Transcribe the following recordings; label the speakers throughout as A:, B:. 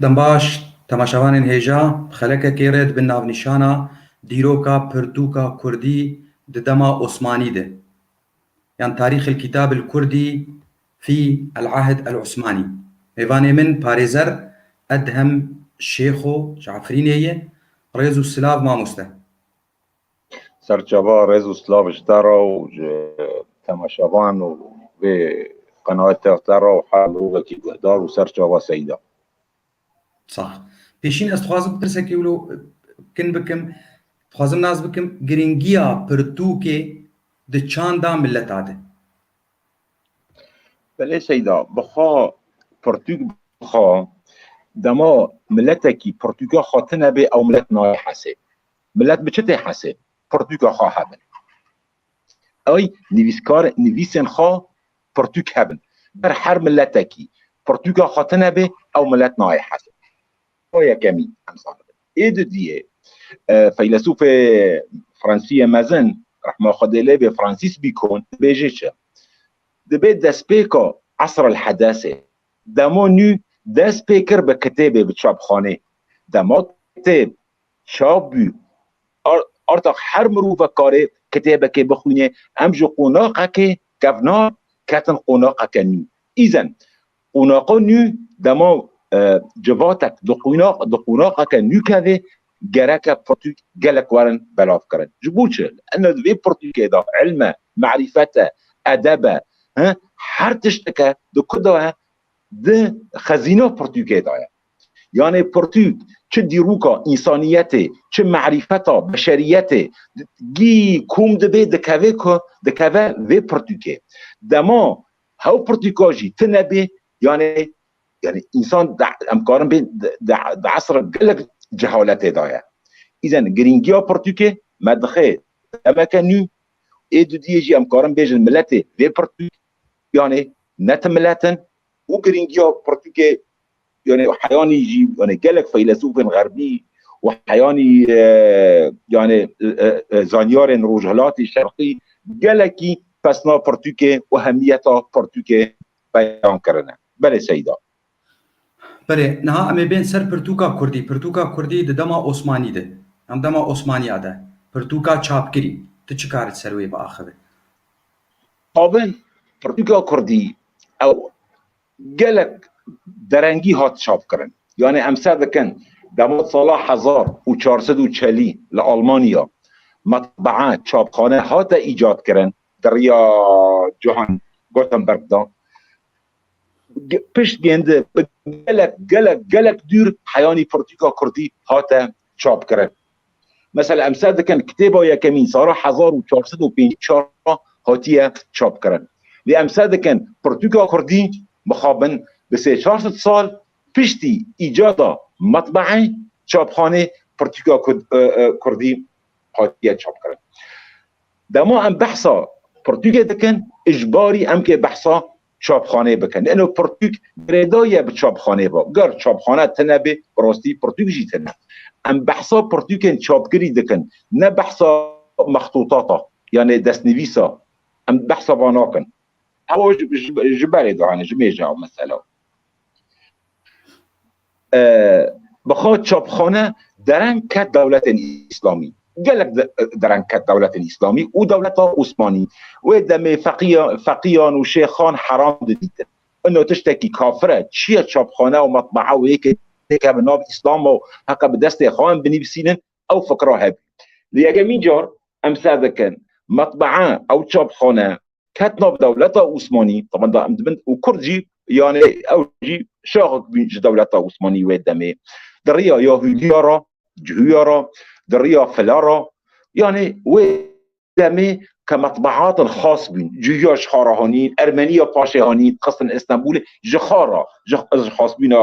A: Dembaş, temaşevanên hêja bi xelekekê re dibin navnîşana dîroka pirtûka kurdî di dema Osmanî de yan Tarîx el-Kîtab el-Kurdî fî el-Ahd el-Osmanî. Mêvanê min Parêzer Edhem Şêxo ji Efrînê ye. Rêz û silav mamoste. Serçava
B: rêz û silav ji te re û ji temaşevan û vê qenatê te re û her mirovekî guhdar û serçava Seyda.
A: Sax. Pêşîn ez dixwazim pirsekê wilo kin bikim, dixwazim nas bikim girîngiya pirtûkê di çanda mileta de?
B: Belê Seyda, bixwe pirtûk bixwe, dema miletekî pirtûka xwe tune bê ew milet nayê hesê. Milet bi çi tê hesê? Pirtûka xwe hebin. Ay nivîskar nivîsên xwe pirtûk hebin. Ber her miletekî pirtûka xwe tine bê ew milet nayê hesê. O yekemî em zanibin. Ê di diyê feylesûfê Fransiyê mezin rehma Xwedê lê bê Fransîs Bîkon dibêjê çi? Dibê destpêka Esr el Hedesê demo nû dest pê kir bi kitêbê bi çapxanê. Dema kitêb Çav bû, artaq her mirovek kare kitêbekê bixwîne, em ji qonaqekê kevnar ketin qonaqeke nû. Îzen, qonaqa nû dema civatek di qonaqeke nû keve, gereke pirtûk gelek werin belavkirin. Ji bo çi? Lano di vê pirtûkê de îlm e, merîfet e, edeb e, her tişteke di ku de ye? Di xezîna pirtûkê de ye. Yanê pirtûk çi dîrûka însaniyetê, çi merîfeta beşeriyetê gî kom dibê dikeve ku dikeve vê pirtûkê. Dema hew pirtûka jî tine bê yanê yanê însan em karin bê di esra gelek cehaletê de ye. Îzen girîngiya pirtûkê me dixê demeke nû ê dudiyê jî em karin bêjin miletê vê pirtûk yanê ne ti milet in û girîngiya pirtûkê yani heyanî jî yani gelek feylesûfên xerbî û heyanî e, yani e, e, zanyarên rojhilatî şerqî gelekî pesna pirtûkê û hemiyeta pirtûkê beyan kirine. Belê Seyda.
A: Berê, niha em ê bên ser pirtûka Kurdî. Pirtûka Kurdî di dema Osmanî de, em dema Osmaniya de, pirtûka çapkirî. Tu çi kar ser wê biaxivî?
B: Abin, pirtûka Kurdî ew Gelek derengî hat çapkirin. Yanê em ser dikin dema di sala hezar û çar sed û çelî li Almanya metbaa, çapxane, hate îcadkirin di riya Johann Gutenberg de, pişt gêndi bi gelek gelek gelek dûr heyanî pirtûka kurdî hate çap kirin. Mesela em ser dikin kitêba yekemîn sala hezar û çar sed û pêncî û çar re hatiye çap kirin. Lê em ser dikin pirtûka kurdî mixabin bi sê çar sed sal piştî îcada metbe'e, çapxanê, pirtûka kurdî hatiye çap kirin. Dema em behsa pirtûkê dikin, ijbarî em kê behsa çapxaneyê bike. Nîno pirtûk girêdayî ye bi çapxaneyê ve. Ger çapxane tune bê, bi rastî pirtûk jî tune. Em behsa pirtûkên çapkirî dikin, ne behsa mextûtata yanê destnivîsa. Em behsa van nakin. Hewa ji berê dihane, ji mêja mesela. Bixwe çapxane dereng ket dewletên îslamî. Gelek dereng ket dewletên îslamî û dewleta Osmanî. Wê demê feqîyan û şêxan heram didîtin. Ino tiştekî kafir e. Çi ye çapxane û metbaa û yekê têkevin nav îslam û heqe bi destê xwe in binivîsînin ew fikra hebî. Li yekemîn car em ser dikin metbaa ew çapxane ket nav dewleta Osmanî teban da em dibin û Kurd jî yanê ew jî şaxek bûn ji dewleta Osmanî wê demê di riya ya hûniya ra cihûya ra di riya fila ra yanê wê demê ke metbeatin xas bûn cihûya ji xara hanîn ermenîya paşê hanîn xistin Îstenbûlê ji xara ji xasbûna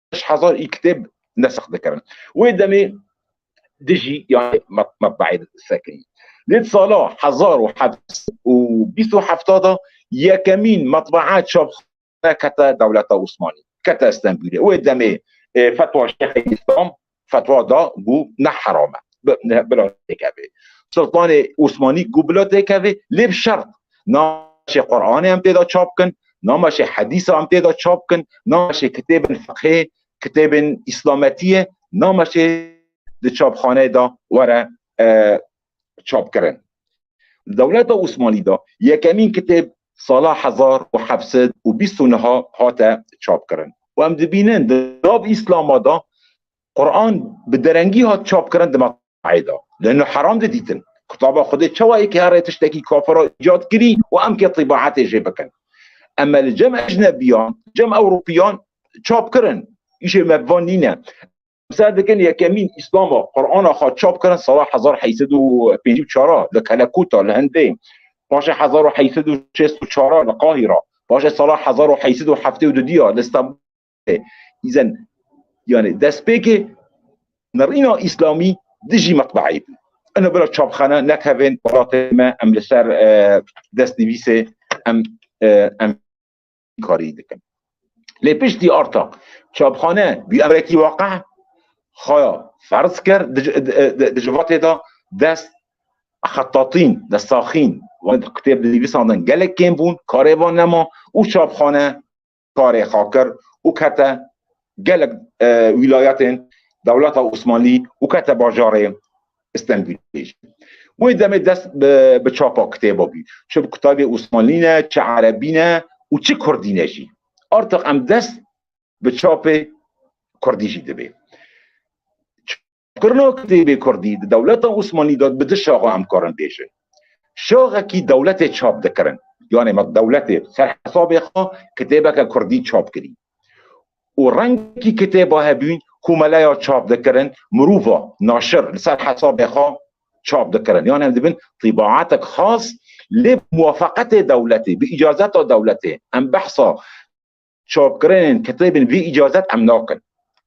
B: beş hezar ê kitêb nesikh dikirin. Wê demê dijî yani metbaî sekirî. Lê di sala hezar û heft û bîst û hefta de yekemîn metbaa çapxane kete dewleta Osmanî. Kete Stenbûlê. Wê demê fetwa Şêxê Îslam fetwa da ku ne heram e bila têkeve. Sultanê Osmanî ku bila têkeve lê bi şert nameşê Quranê em têda çap bikin, nameşê hedîsa em têda çap bikin, nameşê kitêbên fiqhê, kitêbên îslametiyê, nameşê di çapxaneyê de were çap kirin. Di dewleta Osmanî de yekemîn kitêb sala hezar û heft sed û bîst û niha hate çap kirin û em dibînin di nav Îslama de Quran bi derengî hat çap kirin di meqayê de. Li nu heram de dîtin kitaba Xwedê çawa ê kêre tiştekî kafira îcat kirî û em kê tîbaetê jê bikin. Em me li cem ecnebiyan, cem ewropiyan çap kirin. Îşê me bi van nîne. Ser dikin yekemîn Îslama Qur'ana xwe çap kirin sala hezar heysed û pêncî û çar a li Kelekûta li Hindê, paşê hezar û heysed û şêst û çar a li Qahîra, paşê sala hezar û heysed û heftê û dudî a li Stenbolê. Îzen yanê destpêkê nirîna Îslamî dijî metbeeyê bû. Ina bila çapxane nekevên welatê me em li ser destnivîsê em em karî dikin. Lê piştî arta çapxane bûyerekî waqe xaya ferz kir di ji vatê de dest xetatîn de saxîn wan kitêb di nivîsan de gelek kêm bûn karê van nema û çapxane karê xwe kir û kete gelek wîlayetên dewleta Osmanlî û kete bajarê Stenbulê jî wê demê dest bi çapa kitêba bî. Çi bi kutabê Osmanlî ne, çi Erebî ne û çi Kurdî ne jî. Artiq em dest bi çapê Kurdî jî dibê. Çapkirina kitêbê Kurdî di dewleta Osmanlî de bi du şaxa em karin bêjin. Şaxekî dewletê çap dikirin. Yanê me dewletê ser hesabê xwe kitêbeke Kurdî çap kirî. û rengî kitêba hebûn ku meleya çap dikirin mirova naşir li ser hesabê xwe çap dikirin yan em dibin tîbaatek xas lê bi muwafaqetê dewletê bi îcazeta dewletê em behsa çapkirinên kitêbên vî îcazet em nakin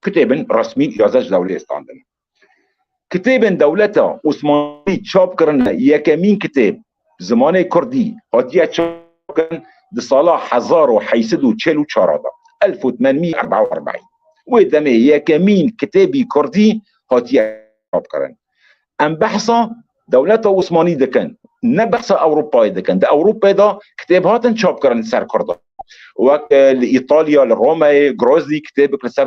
B: kitêbin resmî îcazet ji dewleyê standin. Kitêbên dewleta Osmanlî çap kirine Yekemîn kitêb bi zimanê kurdî hatiye çapkirin di sala hezar û heşt sed û çil û çar de, elf û tmen mî erba û erbîn. Wê demê yekemîn kitêbî kurdî hatiye çapkirin. Em behsa dewleta Osmanlî dikin, ne behsa Ewropayê dikin. Di Ewropayê de kitêb hatin çapkirin li ser kurdan. Wek li Îtalya, li Romeyê, Grozny kitêbek li ser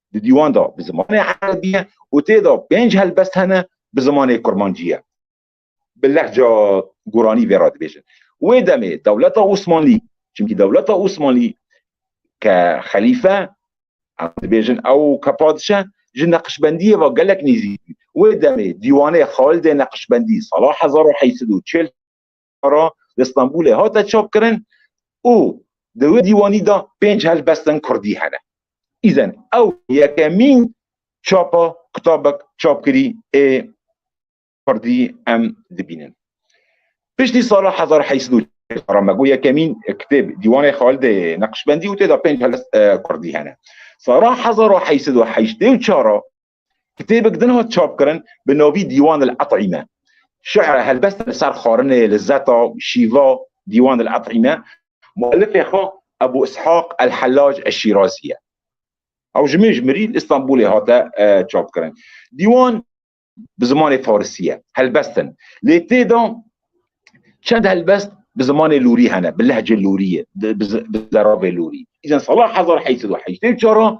B: di dîwan de bi zimanê erebî ye û tê de pênc helbest hene bi zimanê kurmancî ye. Bi lehca guranî vê re dibêjin. Wê demê dewleta Osmanlî, çimkî dewleta Osmanlî ke xelîfe em dibêjin ew ke padişe ji neqşbendiyê ve gelek nêzîk bû. Wê demê dîwanê Xalidê Neqşbendî sala hezar û heşt sed û çil Ankara li Stenbolê hate çapkirin û di wê dîwanî de pênc helbestên kurdî hene. Îzin ew yekemîn çapa kitabek çapkirî ê kurdî em dibînin. Piştî sala hezar heşt sed û çar me got yekemîn kitêb Dîwanê Xalidê Neqşbendî û tê de pênc helbest kurdî hene. Sala hezar û heşt sed û heştê û çar Kitêbek din hat çapkirin bi navî Dîwan el Et'îme. Şi'ra helbeste li ser xwarinê, lizzeta, şîva, Dîwan el Et'îme, muellifê xwe Ebû Îshaq el Hellaj el Şîrazî ye. Ew ji min ji mirî li Îstanbûlê hate çapkirin. Dîwan bi zimanê farisî ye, helbest in. Lê tê de çend helbest bi zimanê lûrî hene, bi lehcê lûrî ye, bi zeravê lûrî. Îzên sala hezar heşt sed û heştê û çar a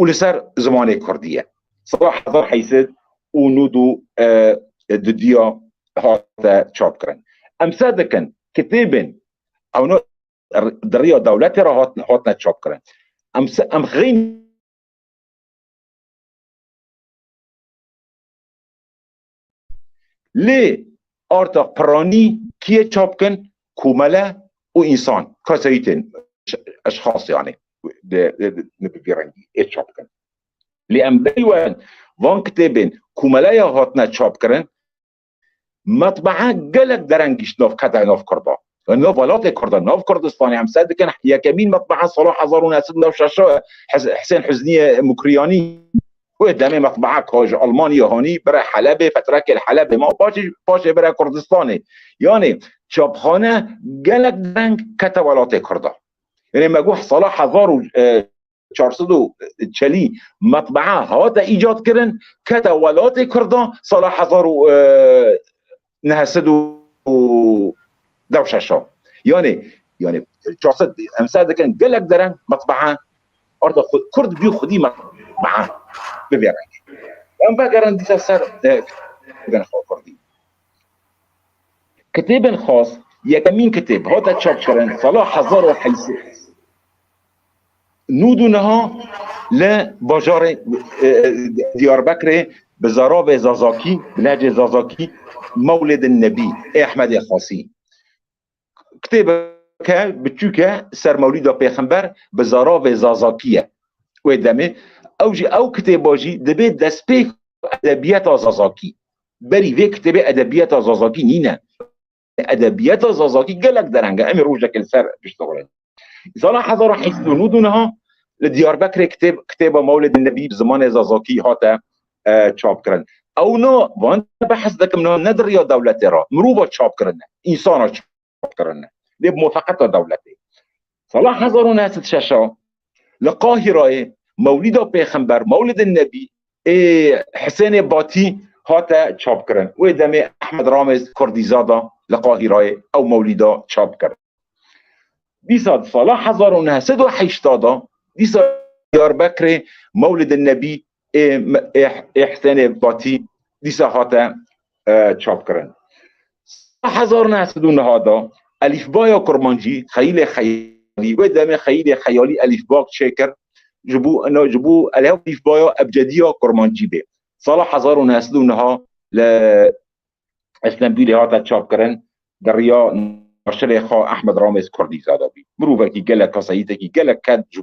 B: û li ser zimanê kurdî ye. Sala hezar heysid û nû du di duya hate çapkirin. Em ser dikin kitêbên ewna di rêya dewletê re hatin hatine çapkirin. Em em xeyn Lê arta piranî kî yê çap bikin? Komele û însan, kesayî tên, eşxas yanî bi vî rengî ê çap bikin. Lê em berî werin van kitêbên komele ya hatine çapkirin metbaa gelek dereng gîşt nav qedayê nav kurdan. Li welatê Kurd e, nav Kurdistanê em ser dikin yekemîn metbeha sala hezar û neh sed û neh şeş e Husên Huzniyê Mukriyanî. Wê demê metbeha ka ji Almanyê hanî bire Helebê, fetrekê li Helebê ma paşê paşê bire Kurdistanê. Yanê çapxane gelek dereng kete welatê Kurd e. Yanê me got sala hezar û çar sed û çelî metbea hate îcadkirin kete welatê Kurdan sala hezar û neh sed û dew şeşa yanê yanê çar sed em ser dikin gelek dereng metbea arda Kurd bî xwedî metbea bibê rengê em vegerin dîsa ser kitêbên xwe Kurdî kitêbên xas yekemîn kitêb hate çapkirin sala hezar û Nûd û niha li bajarê Diyarbekirê bi zarabê Zazakî, bi lehcê Zazakî Mewlid Nebî ê Ehmedê Xasî kitêbeke biçûk e ser Mewlîda Pêxember bi zarabê Zazakî ye wê demê ew jî ew kitêba jî dibê destpêk edebiyeta Zazakî. Berî vê kitêbê edebiyeta Zazakî nîne. Edebiyata Zazakî gelek dereng e. Em ê rojekê li ser piştdixurin. Sala hezar û heft û nû dû niha li Diyarbekirê kitêb kitêba Mewlidin Nebî bi zimanê Zazakî hate e, çapkirin. Ew na van behs dikim na ne di riya dewletê re mirova çapkirine, însana çapkirine. Lê bi mofeqeta dewletê. Sala hezar û neh sed û şeş a li Qahîrayê Mewlîda Pêxember, Mewlid Nebî, ê Hisênê Batî hate çapkirin. Wê demê Ehmed Ramez Kurdîzad a li Qahîrayê ew mewlîda çap kir. Dîsa di sala hezar û neh sed û heştad a dîsa Diyarbekirê Mewlid Nebî ê Hisenê Batî dîsa hate çapkirin. Sala hezar û neh sed û niha de elîfbaya kurmancî xeyîlê xeyalî wê demê xeyîlê xeyalî elîfba çêkir ji bo ina ji bo elîfbaya ebcedîya kurmancî bê. Sala hezar û neh sed û niha li Îstenbûlê hate çapkirin di riya naşirê xwe Ehmed Ramêz Kurdîzade bî. Mirovekî gelek kesayîtekî gelek ked ji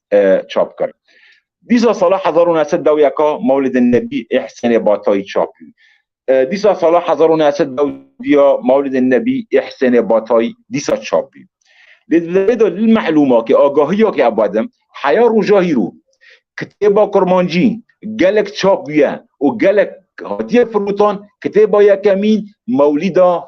B: çap kir. Dîsa sala hezar û neh sed dew yeka Mewlidê Nebî ê Hisênê Batayî çap bû. Dîsa sala hezar û neh sed dew dîya Mewlidê Nebî ê Hisênê Batayî dîsa çap bû. Lê di derê de li mehlûma ke agahiya ke eba de heya roja hîro kitêba kurmancî gelek çap bûye û gelek hatiye firotan kitêba yekemîn Mewlîda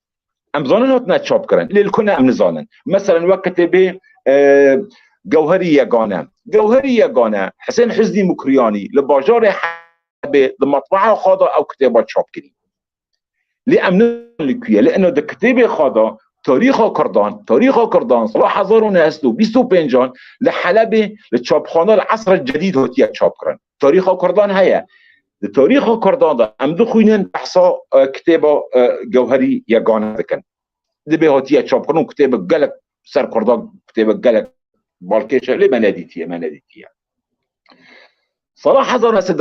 B: Em zanin hatine çapkirin. Lê li ku ne em nizanin. Meselen wek kitêbê e, Gewherî Yegane. Gewherî Yegane Hisên Hiznî Mukriyanî li bajarê Hebê di matbaha xwe de ew kitêba çap kirî. Lê em nizanin li kuye. Lê ina di kitêbê xwe de tarîxa Kurdan, tarîxa Kurdan sala hezar û neh sed û bîst û pêncan li Helebê li çapxana li Esr el Cedîd hatiye çapkirin. Tarîxa Kurdan heye. Di tarîxa Kurdan de em dixwînin behsa e, kitêba e, gewherî yegane dikin. Dibê hatiye çapkirin û kitêbek gelek ser Kurdan kitêbek gelek balkêş e lê me nedîtiye me nedîtiye. Sala hezar nesin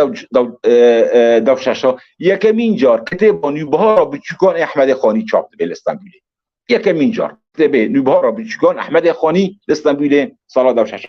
B: dev şeşa yekemîn car kitêba nûbihara biçûkan ê Ehmedê Xanî çap dibê li Stenbûlê. Yekemîn car kitêbê nûbihara biçûkan Ehmedê Xanî li Stenbûlê sala dev şeşa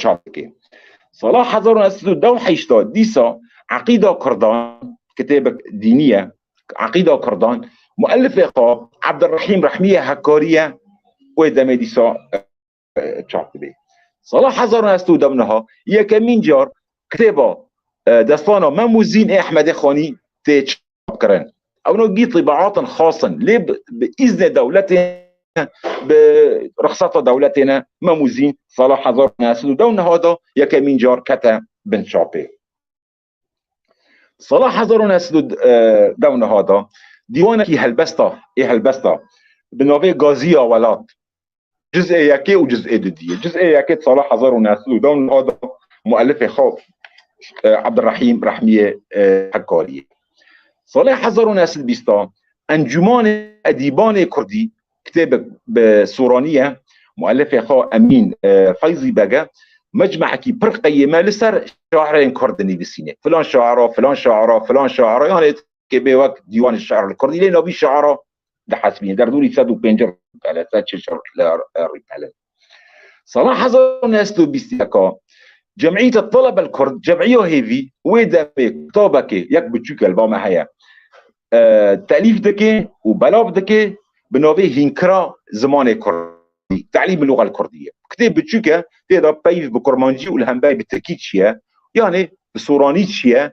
B: çap dike. Sala hezar û neh sed û deh û heştad dîsa Eqîda Kurdan kitêbek dînî ye Eqîda Kurdan muellifê xwe Ebdirehîm Rehmî ye hekkarî ye wê demê dîsa çap dibe. Sala hezar û neh sed û deh û niha yekemîn car kitêba destana Mem û Zîn ê Ehmedê Xanî tê kirin. Ewno gî tîbaatên xas in lê bi îznê dewletê bi rixsata dewletê ne Memûzîn sala hezar û neh sed û deh û niha de yekemîn car kete bin çapê. Sala hezar û neh sed û deh û niha de dîwanekî helbesta ê helbesta bi navê Gazîya Welat Cizê yekê û cizê didiyê. Cizê yekê di sala hezar û neh sed û deh û neh de muelifê xwe Ebdirehîm Rehmiyê hevkariyê. Salê hezar û neh sed bîst de Encûmanê Edîbanê Kurdî kitêbek bi Soraniye muelifê xwe Emîn Feyzî Bege mecmehekî pir qeyê me li ser şairên kurd dinivîsînê. Filan şaira, filan şaira, filan şaira yanê kê bê wek dîwanê şair li kurdî lê navî şaira di hesbînê derdûrî sed û pêncî rîpele sed şeş rîpele Sala hezar û neh sed û bîst yeka Cemîyeta Telebel Kurd cemîya hêvî wê demê kitabekê yek biçûk li ba me heye telîf dike û belav dike bi navê hînkira zimanê kurdî telîm bi lûxel kurdî ye kitêb biçûk e tê de peyv bi kurmancî û li hemberî bi tirkî çiye yanê bi soranî çiye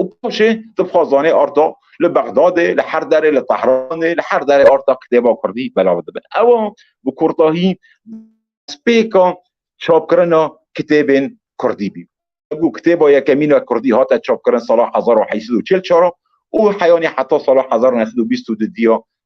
B: û paşê tu bixwe zanê arta li Bexdadê, li her derê, li Tehranê, li her derê arta kitêba kurdî belav dibin. Ewa bi kurtahî destpêka çapkirina kitêbên kurdî bî. Bû kitêba yekemîna kurdî hate çapkirin sala hezar û heşt sed û çil çar û heyanî heta sala hezar û neh sed û bîst û du diya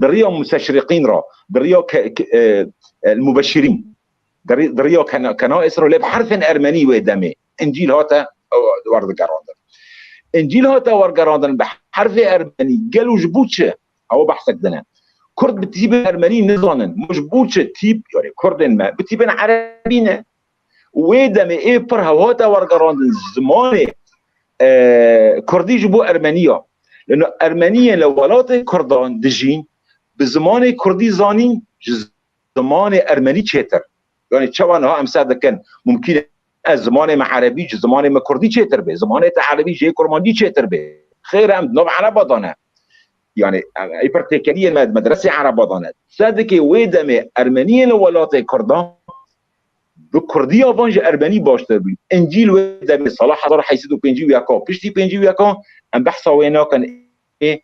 B: Di riya museşriqîn ra, di riya el mubeşirîn, di riya kenais ra lê bi herfên ermenî wê demê Încîl hate werdigerandin. Încîl hate wergerandin bi herfê ermenî, gel û ji bo çi? Ew behsek din e. Kurd bi tîpên ermenî nizanin, ma ji bo çi tîp, yarê kurdên me, bi tîpên erebî ne? û wê demê ê pir hev hate wergerandin zimanê kurdî ji bo ermenî ya. Lino ermeniyên li welatên kurdan dijîn bi zimanê kurdî zanîn ji zimanê ermenî çêtir. Yanî çawa niha em ser dikin mumkîn e ez zimanê me erebî ji zimanê me kurdî çêtir bê, zimanê te erebî ji yê kurmancî çêtir bê. Xêr e em di nav ereba de ne. Yanî ê pir têkeliyên me di medresê ereba de ne. Ser dikê wê demê ermeniyên li welatên kurdan Bi kurdiya van ji erbenî baştir bû. Încîl wê demê sala hezar heşt sed û pêncî û yek a. Piştî pêncî û yek a em behsa wê nakin ê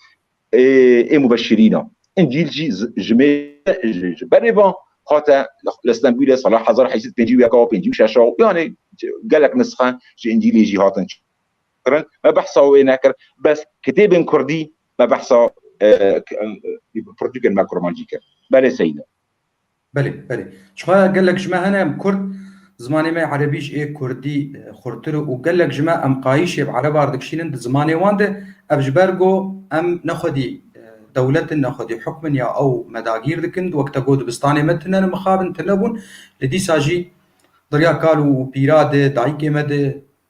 B: ê mubeşirîn a. Încîl jî ji mêr ji berê van hate li Stenbûlê sala hezar heşt sed pêncî û yek a pêncî û şeş a yanê gelek nisxe ji Încîlê jî hatin kirin. Me behsa wê nekir. Bes kitêbên kurdî me behsa pirtûkên me kurmancî kir. Belê Seyîd e. Belê belê.
A: Çiqa gelek ji me hene em Kurd zimanê me Erebî ji ê Kurdî xurtir û gelek ji me em qayîşê bi Erebar dikişînin di zimanê wan de ev ji ber ku em ne xwedî dewlet in ne xwedî hukm in ya ew me dagîr dikin wek te got dibistanê me tune ne mixabin tune bûn li dîsa jî derya kal û pîra de dayikê me de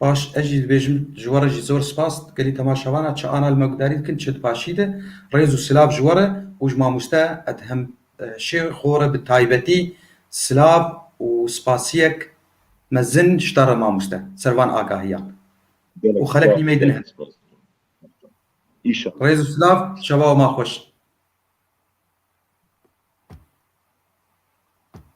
B: Baş
A: ez jî dibêjim ji we re jî zor spas gelî temaşevan a çi ana li me gudarî dikin çi di paşî de rêz û silav ji we re û ji mamoste Edhem Şêxo re bi taybetî silav û spasiyek mezin ji te re mamoste ser van agahiyan û xelek nîmey din hene. Rêz û silav şeva ma xweş.